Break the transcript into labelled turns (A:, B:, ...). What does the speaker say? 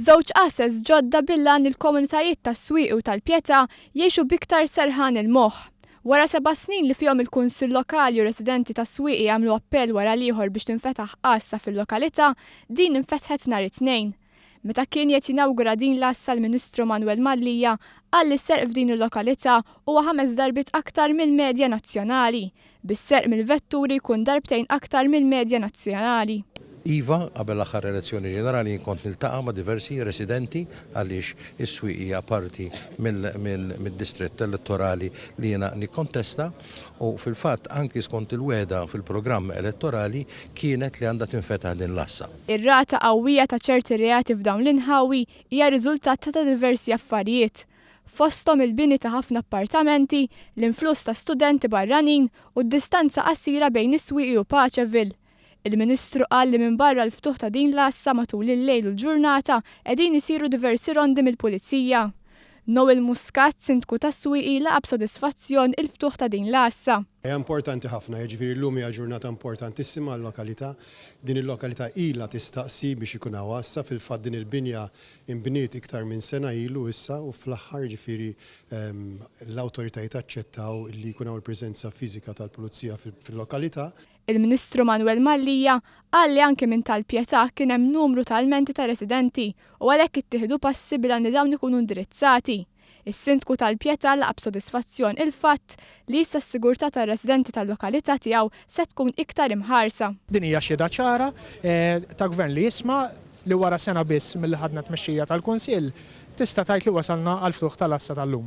A: Żewġ assets ġodda bil-għan li l-komunitajiet tas-Swieqi u tal-Pietà jgħixu b'iktar serħan il-moħħ. Wara seba' snin li fihom il-Kunsill Lokali u residenti tas-Swieqi għamlu appell wara l-ieħor biex tinfetaħ għassa fil-lokalità, din infetħet nhar it-Tnejn. Meta kien qiegħed jinawgura din l-għassa l-Ministru Manwel Mallia qal li s-serq f'din il-lokalità huwa ħames darbiet aktar mill-medja nazzjonali, bis-serq mill-vetturi jkun darbtejn aktar mill-medja nazzjonali. Iva,
B: qabel l-aħħar elezzjoni ġenerali jien kont niltaqa' ma' diversi residenti għaliex is-Swieq hija parti mid-distrett elettorali li jiena nikkontesta u fil-fatt anki skont il-wegħda fil-programm elettorali kienet li għandha tinfetaħ din l-għassa. Ir-rata qawwija
A: ta' ċerti reati f'dawn l-inħawi hija riżultat ta' diversi affarijiet, fosthom il-bini ta' ħafna appartamenti, l-influss ta' studenti barranin u d-distanza qasira bejn is-Swieqi u Paċeville. Il-Ministru qal li minbarra l-ftuħ ta' din l-għassa matul il-lejl u l-ġurnata qegħdin isiru diversi rondi mill-Pulizija. Noel Muscat, Sindku tas-Swieqi laqa' b'sodisfazzjon il-ftuħ ta' din l-għassa. Hija importanti
C: ħafna, jiġifieri llum hija ġurnata importantissima għal-lokalità. Din il-lokalità ilha tistaqsi biex ikun hawn għassa, fil-fatt din il-binja Inbniet iktar minn sena ilu issa u fl-aħħar, jiġifieri l-awtoritajiet aċċettaw li jkun hawn il-preżenza fiżika tal-Pulizija fil-lokalità. Il-Ministru
A: Manwel Mallia qal li anke minn Tal Pietà kien hemm numru ta' lmenti ta' residenti u għalhekk ittieħdu passi bil-għan li dawn ikunu indirizzati. Is-Sindku tal-Pietà laqa' b'sodisfazzjon il-fatt li issa s-sigurtà tar-residenti tal-lokalità tiegħu se tkun iktar imħarsa. Din hija xhieda ċara
D: ta' Gvern li jisma' li wara sena biss milli ħadna t-tmexxija tal-Kunsill, tista' tgħid li wasalna għall-ftuħ tal-għassa tal-lum.